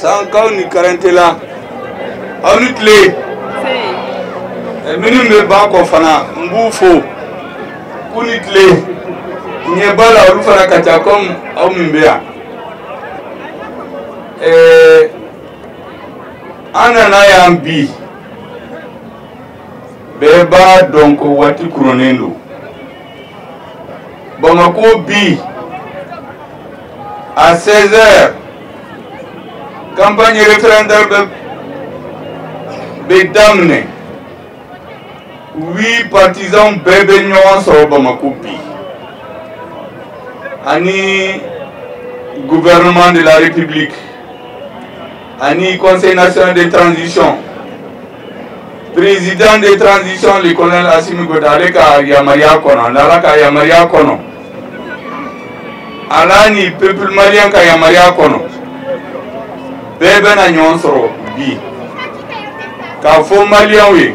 sankaw ni karantela aw ni tile minnu bɛ banakɔ fana n b'u fo k'u ni tile ɲɛ b'a la olu fana ka ca kɔmi aw min bɛ yan an nana yan bi bɛɛ b'a dɔn ko waati kurunnen don bamakɔ bi à 16 heures campagne référendaire bɛ daminɛ oui partisans bɛɛ bɛ ɲɔgɔn sɔrɔ bamakɔ bi ani gouvernement de la république ani conseil national de transition président de transition le colonel Assimi Goïta ale ka yamaruya kɔnɔ ani Ala ka yamaruya kɔnɔ Ala ni peuple malien ka yamaruya kɔnɔ bɛɛ bɛna ɲɔgɔn sɔrɔ bi k'a fɔ maliyɛnw ye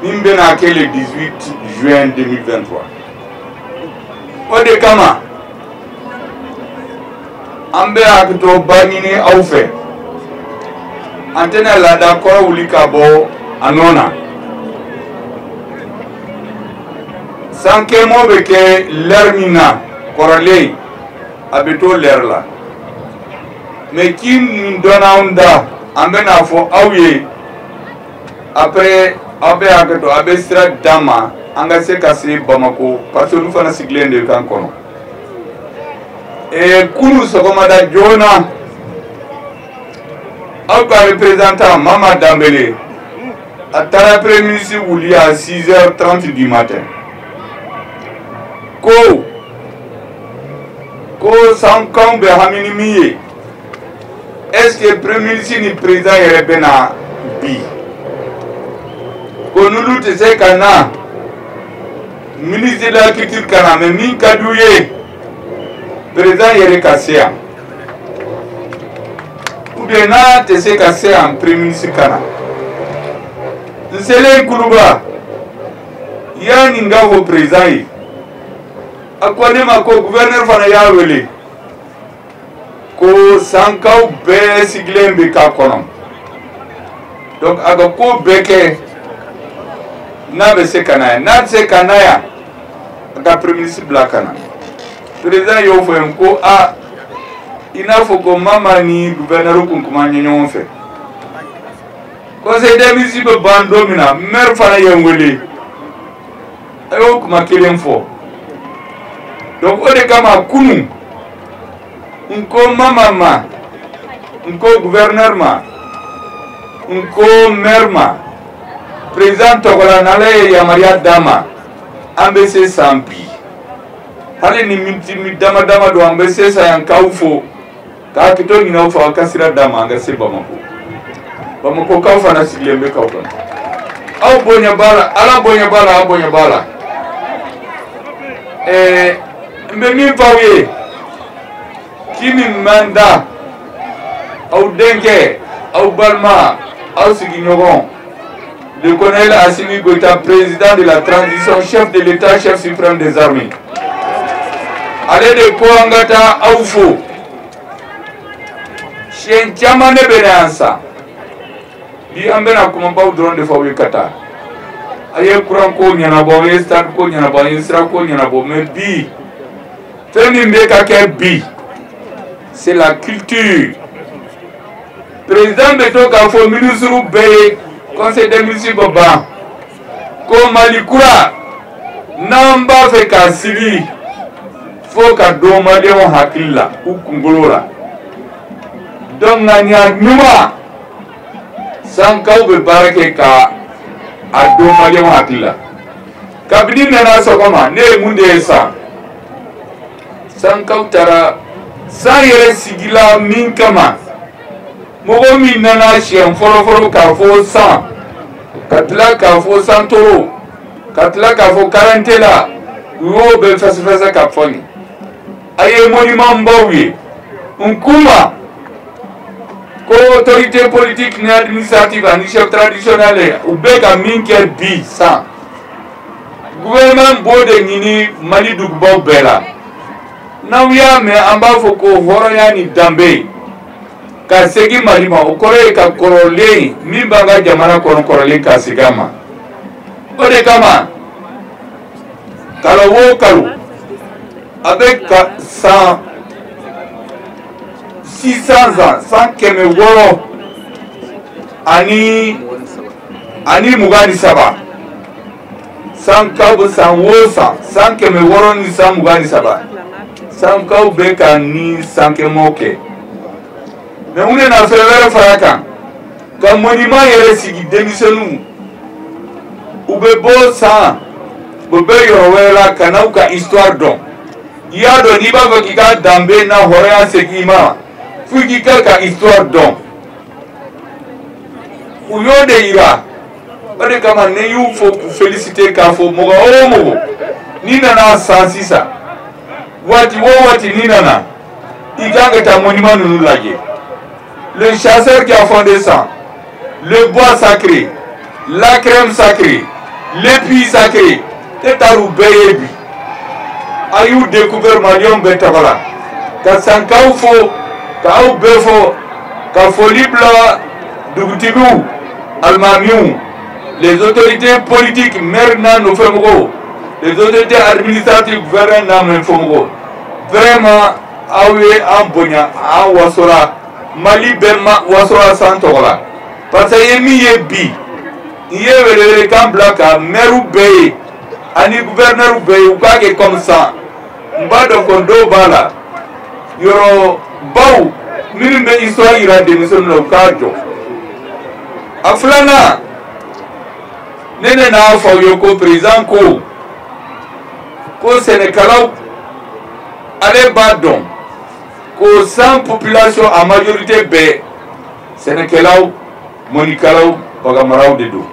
min bɛna kɛ le 18 juin 2023 o de kama an bɛ hakɛto ba ɲini aw fɛ an tɛna laada kɔrɔ wuli ka bɔ a nɔ na sankɛ mɔ bɛ kɛ lɛri min na kɔrɔlen a bɛ to lɛri la mɛ ci min donna anw da an bɛn'a fɔ aw ye après aw bɛ hakɛ to aw bɛ sira d'an ma an ka se ka se Bamako parce que olu fana sigilen de k'an kɔnɔ ee kunu sɔgɔmada joona aw ka représentant Mama Dambele a taara premier ministre wuli à 6 heures 30 du matin ko ko sankaw bɛ hami ni min ye est-ce que premier ministre ni président yɛrɛ bɛ na bi ko n'olu tɛ se ka na ministre de la culture ka na mɛ min ka d'u ye président yɛrɛ ka se yan ou bien n'a tɛ se ka se yan premier ministre ka na n selen kuluba y'a ɲini k'a fɔ président ye a ko ne ma ko gouverneur fana y'a wele. ko sankaw bɛɛ sigilen bɛ k'a kɔnɔ donc a ka ko bɛɛ kɛ n'a bɛ se ka na yan n'a tɛ se ka na yan a ka premier ministre bila ka na président y'o fɔ yen ko a i n'a fɔ ko mama ni gouverneur kun kuma ɲɛ ɲɔgɔn fɛ conseil des ministres bɛ ban don min na maire fana ye n wele a y'o kuma kelen fɔ donc o de kama kunu n ko mama ma n ko gouverneur ma n ko maire ma président tɔgɔ la n'ala ye yamaruya d'an ma an bɛ se san bi hali ni miniti dama dama don an bɛ se san yan k'aw fo ka hakɛto ɲin'aw fɛ aw ka sira d'an ma an ka se bamako bamakokaw fana sigilen bɛ k'aw kɔnɔ aw bonya b'a la ala bonya b'a la aw bonya b'a la ɛɛ n bɛ min f'aw ye k'i min man da aw denkɛ aw balima aw sigiɲɔgɔn Le colonel Assimi Goïta, président de la transition, chef de l'État, chef suprême des armées. Ale de ko an ka taa aw fo. Siɲɛ caman ne bɛ na San. Bi an bɛna kumabaw dɔrɔn de fɔ aw ye ka taa an ye kuran ko ɲɛnabɔ an ye stade ko ɲɛnabɔ an ye sira ko ɲɛnabɔ mais bi fɛn min bɛ ka kɛ bi c'est la culture président bɛ to k'a fɔ minisiriw bɛɛ ye conseil des ministres bɛ ban ko mali kura n'an b'a fɛ k'a sigi fo k'a don maliyɛnw hakili la u kunkolo la donc ŋaniya ɲuman sankaw bɛ baara kɛ ka a don maliyɛnw hakili la kabini n nana sɔgɔma ne ye mun de ye san sankaw taara san yɛrɛ sigila min kama mɔgɔ min nana siɲɛ fɔlɔfɔlɔ k'a fɔ san ka tila k'a fɔ santoro ka tila k'a fɔ karantela u y'o bɛɛ fɛsɛfɛsɛ k'a fɔ n ye a ye monument baw ye n kuma ko autorité politique ni administrative ani chef traditionnel u bɛ ka min kɛ bi san gouvernement b'o de ɲini mali dugubaw bɛɛ la n'aw y'a mɛn an b'a fɔ ko hɔrɔnya ni danbe ka segin mali ma o kɔrɔ ye ka kɔrɔlen min b'an ka jamana kɔnɔ kɔrɔlen ka segin a ma o de kama kalo o kalo a bɛ ka san six cents ans san kɛmɛ wɔɔrɔ ani ani mugan ni saba sankaw bɛ san wo san san kɛmɛ wɔɔrɔ ni san mugan ni saba sankaw bɛ ka nin sankemɔ kɛ mais u nana fɛn wɛrɛ far'a kan ka monument yɛrɛ sigi denmisɛnninw u bɛ bɔ san u bɛ yɔrɔ wɛrɛ la ka n'aw ka histoire dɔn i y'a dɔn n'i b'a fɛ k'i ka danbe n'a hɔrɔnya segin i ma fo k'i ka ka histoire dɔn. u y'o de yira o de kama ne y'u fo k'u féliciter k'a fɔ mɔgɔ o mɔgɔ n'i nana san sisan waati o waati n'i nana i kan ka taa monument ninnu lajɛ le chasseur qui a fondé san le bois sacré la crème sacrée le puits sacré e taar'u bɛɛ ye bi a y'u découvert maliyɛnw bɛɛ tɔgɔ la ka sankaw fo ka aw bɛɛ fo ka foli bila dugutigiw alimamiw les autorités politiques maire n'a nɔfɛ mɔgɔw les autorités administratives gouverneur n'a nɔfɛ mɔgɔw vraiment aw ye an bonya an wasora mali bɛɛ ma wasora san tɔgɔ la parce que n ye min ye bi n ye welewelekan bila ka mɛriw bɛɛ ye ani guvɛrnɛriw bɛɛ ye u k'a kɛ kɔmi san n b'a dɔn ko dɔw b'a la yɔrɔ baw minnu bɛ histoire yira denmisɛnninw na u k'a jɔ a filanan ne ne n'a fɔ aw ye ko président ko ko sɛnɛkɛlaw ale b'a dɔn ko san population en majorité bɛɛ sɛnɛkɛlaw mɔnnikɛlaw baganmaraw de don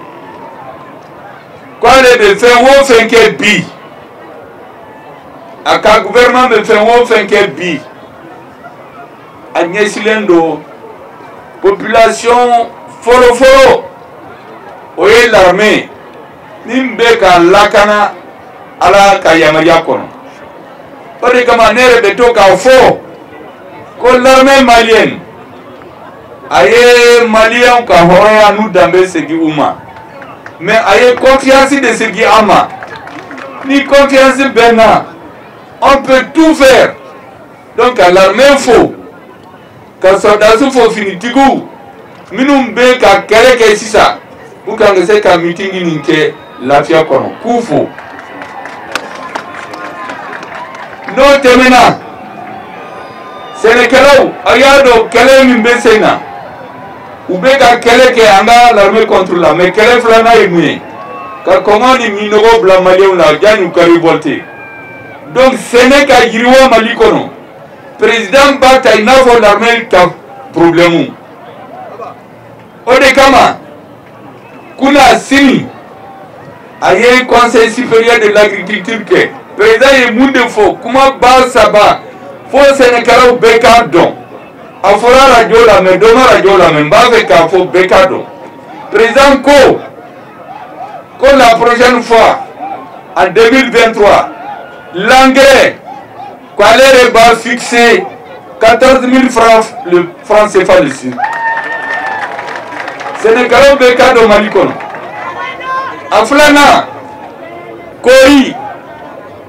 k'ale bɛ fɛn o fɛn kɛ bi a ka gouvernement bɛ fɛn o fɛn kɛ bi a ɲɛsilen don population fɔlɔfɔlɔ o ye l'armée min bɛ k'an lakana ala ka yamaruya kɔnɔ o de kama ne yɛrɛ bɛ to k'a fɔ ko l'armée malienne a ye maliyɛnw ka hɔrɔnya n'u danbe segin u ma mais a ye confiance de segin an ma ni confiance b'an na on peut tout faire donc ka l'armée fo ka sɔrɔdasiw fo finitigiw minnu bɛ ka kɛlɛ kɛ sisan pour k'an ka se ka mitingi nin kɛ lafiya kɔnɔ k'u fo n'o tɛmɛna sɛnɛkɛlaw aw y'a dɔn kɛlɛ min bɛ sen na u bɛ ka kɛlɛ kɛ an ka l'armée contre la mais kɛlɛ filanan ye mun ye ka kɔngɔ ni minnɔgɔ bila maliyɛnw la yanni u ka révolter donc sɛnɛ ka yiriwa mali kɔnɔ président b'a ta i n'a fɔ l'armée ka problème o de kama kunasini a ye conseil supérieur de l'agriculture kɛ président ye mun de fɔ kuma ba saba fo sɛnɛkɛlaw bɛɛ k'a dɔn a fɔra arajo la mais dɔ ma arajo lamɛn n b'a fɛ k'a fɔ bɛɛ k'a dɔn président ko ko la prochaine fois en 2023 l'engrais ko ale de b'a fixer 14000 francs le franc CFA le sac sɛnɛkɛlaw bɛ k'a dɔn Mali kɔnɔ a filanan kɔɔri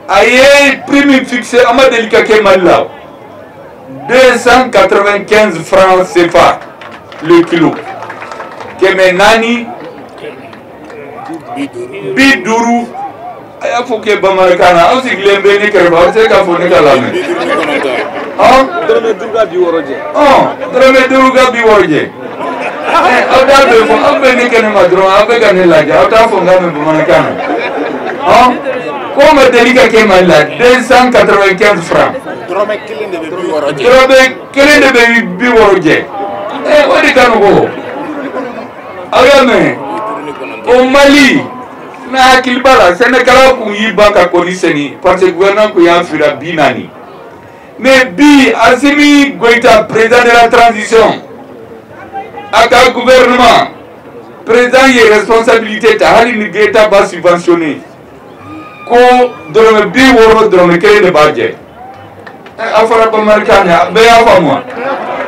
a ye prix min fixer a ma deli ka kɛ Mali la 295 francs CFA le kilo kɛmɛ naani bi duuru a y'a fɔ kɛ bamanankan na aw sigilen bɛ ne kɛrɛfɛ aw bɛ se k'a fɔ ne k'a lamɛn ɔn dɔrɔmɛ duuru ka bi wɔɔrɔ jɛ ɔn dɔrɔmɛ duuru ka bi wɔɔrɔ jɛ ɛ aw t'a bɛɛ fɔ aw bɛ ne kɛnɛ ma dɔrɔn aw bɛ ka ne lajɛ aw t'a fɔ n k'a mɛn bamanankan na ɔn k'o ma deli ka kɛ mali la deux cent quatre vingt quinze francs dɔrɔmɛ kelen de bɛ bi wɔɔrɔ jɛ dɔrɔmɛ kelen de bɛ bi wɔɔrɔ jɛ ɛ o de ka nɔgɔ aw y'a mɛn o mali n'aw hakili b'a la sɛnɛkɛlaw kun y'i ban ka kɔɔri sɛnɛ parce que gouvernement kun y'a fira bi naani mais bi asimi goyita président de la transition a ka gouvernement président ye responsabilité ta hali ni État b'a subventionner ko dɔrɔmɛ bi wɔɔrɔ dɔrɔmɛ kelen de b'a jɛ a fɔra bamanankan na bɛɛ y'a faamu wa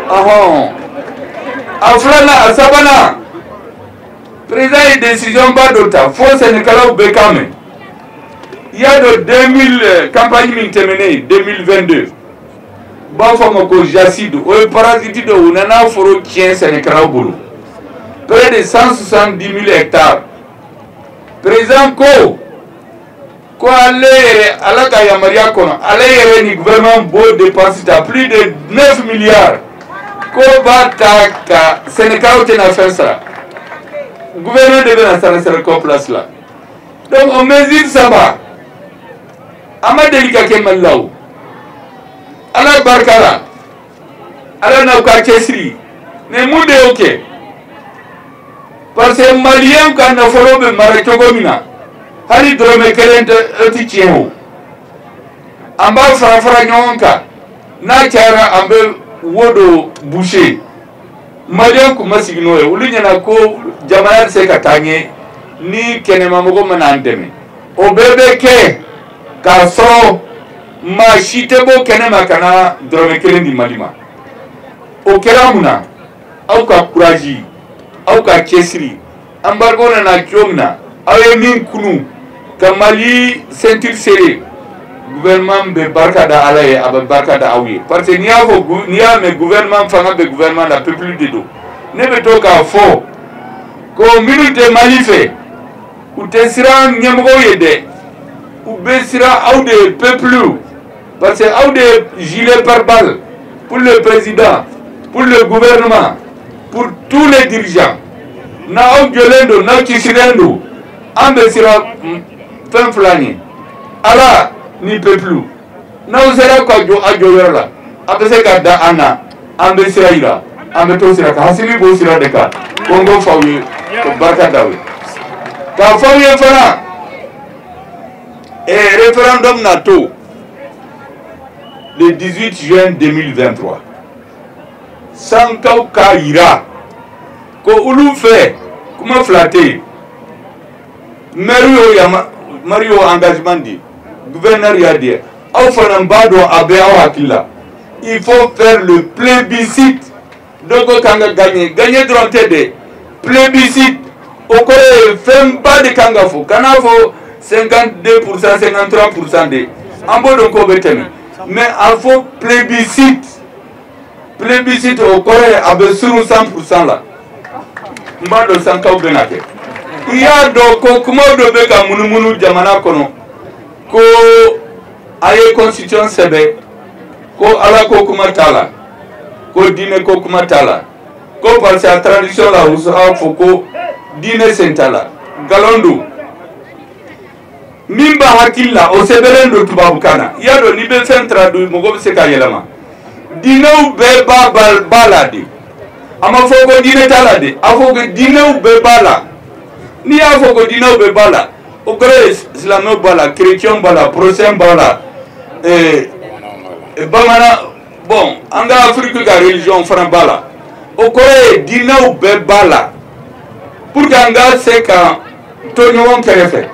ɔhɔn a filanan a sabanan président ye décision ba dɔ ta fo sɛnɛkɛlaw bɛɛ k'a mɛn i y'a dɔn 2000 campagne min tɛmɛnen 2022 u b'a fɔ a ma ko jasside o ye parasite dɔ u nana foro tiɲɛ sɛnɛkɛlaw bolo près de 170 000 hectares président ko ko ale yɛrɛ ala ka yamaruya kɔnɔ ale yɛrɛ ni gouvernement b'o dépense ta plus de 9 milliards ko b'a ta ka sɛnɛkɛlaw tɛna fɛn sara gouvernement de bɛn'a sara sɛnɛkɛlaw place la donc o mesure saba a ma deli ka kɛ mali la o ala barika la ala n'aw ka cɛsiri mais mun de y'o kɛ parce que maliyɛnw ka nafolo bɛ mara cogo min na hali dɔrɔmɛ kelen tɛ tiɲɛ o an b'a fara fara ɲɔgɔn kan n'a cayara an bɛ wo dɔ boucher maliyɛnw kun ma sigi n'o ye olu ɲɛ na ko jamana tɛ se ka taa ɲɛ ni kɛnɛmamɔgɔ ma na an dɛmɛ o bɛɛ bɛ kɛ k'a sɔrɔ maa si tɛ bɔ kɛnɛ ma ka na dɔrɔmɛ kelen di mali ma o kɛra mun na aw ka courage aw ka cɛsiri embargo nana cogo min na aw ye min kunu ka mali ceinture serrer gouvernement bɛ barika da ala ye a bɛ barika da aw ye parce que n'i y'a fɔ n'i y'a mɛn gouvernement fanga bɛ gouvernement la peuple de don ne bɛ to k'a fɔ ko minnu tɛ mali fɛ u tɛ siran ɲɛmɔgɔw ye dɛ u bɛ siran aw de ye peuple parce que aw de ye gilet pare-balle pour le président pour le gouvernement pour tous les dirigeants n'aw jɔlen don n'aw cɛsirilen don an bɛ siran fɛn fila ɲɛ ala ni peuple n'aw sera ka jɔ a jɔyɔrɔ la a bɛ se ka da an na an bɛ sira yira an bɛ to sira kan assimi b'o sira de kan ko n k'o f'aw ye ko barika d'aw ye k'a f'aw ye fana ee référendum natɔ le 18 juin 2023 sankaw k'a yira ko olu fɛ kuma fila tɛ yen maire y'o maire y'o engagement di gouverneur y'a di aw fana b'a dɔn a bɛ aw hakili la il faut faire le plébiscite dɔ ko k'an ka gagner gagner dɔrɔn tɛ dɛ plébiscite o kɔrɔ ye fɛnba de kan ka fɔ kan'a fɔ 52 pour cent 53 pour cent dɛ an b'o dɔn k'o bɛ tɛmɛ mais a fɔ plébiscite plébiscite o kɔrɔ ye a bɛ surun 100 pour cent la n b'a dɔn sankaw bɛn'a kɛ i y'a dɔn ko kuma dɔ bɛ ka munumunu jamana kɔnɔ ko a ye constitution sɛbɛn ko ala ko kuma t'a la ko diinɛ ko kuma t'a la ko parce que a traduction la u b'a fɔ ko diinɛ sen t'a la nkalon don min b'a hakili la o sɛbɛnlen don tubabukan na i y'a dɔn n'i bɛ fɛn traduit mɔgɔ bɛ se k'a yɛlɛma diinɛw bɛɛ b'a b'a la dɛ a ma fɔ ko diinɛ t'a la dɛ a fɔ ko diinɛw bɛɛ b'a la n'i y'a fɔ ko diinɛw bɛɛ b'a la o kɔrɔ ye silamɛw b'a la chrétienw b'a la protestants b'a la eh, eh, bamanan bon an ka afiriki ka religion fana b'a la o kɔrɔ ye diinɛw bɛɛ b'a la pour que an ka se ka to ɲɔgɔn kɛrɛfɛ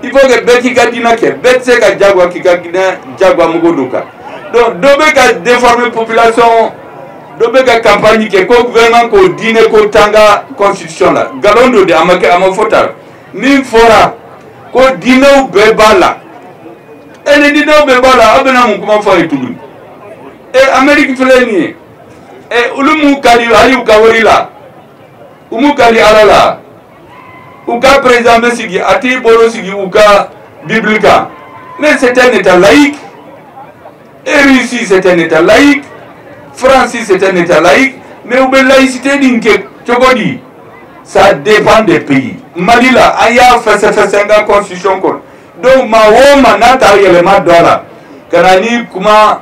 il faut que bɛɛ k'i ka diinɛ kɛ bɛɛ tɛ se ka jagoya k'i ka diinɛ jagoya mɔgɔ dɔ kan donc dɔ bɛ ka déformer population dɔ bɛ ka campagne kɛ ko gouvernement ko diinɛ ko t'an ka constitution la nkalon don dɛ a ma kɛ a ma fɔ tan min fɔra ko diinɛw bɛɛ b'a la e ni diinɛw bɛɛ b'a la aw bɛna mun kuma fɔ a ye tuguni e amérique filɛ nin ye e olu m'u kali hali u ka wari la u m'u kali ala la u ka président bɛ sigi a t'i bolo sigi u ka bibili kan mais c'est un état laïque et russie c'est un état laïque france c'est un état laïque mais u bɛ laïcité nin kɛ cogo di ça dépend des pays mali la an y'a fɛsɛfɛsɛ an ka constitution kɔnɔ donc maa o maa n'a ta yɛlɛma don a la ka na ni kuma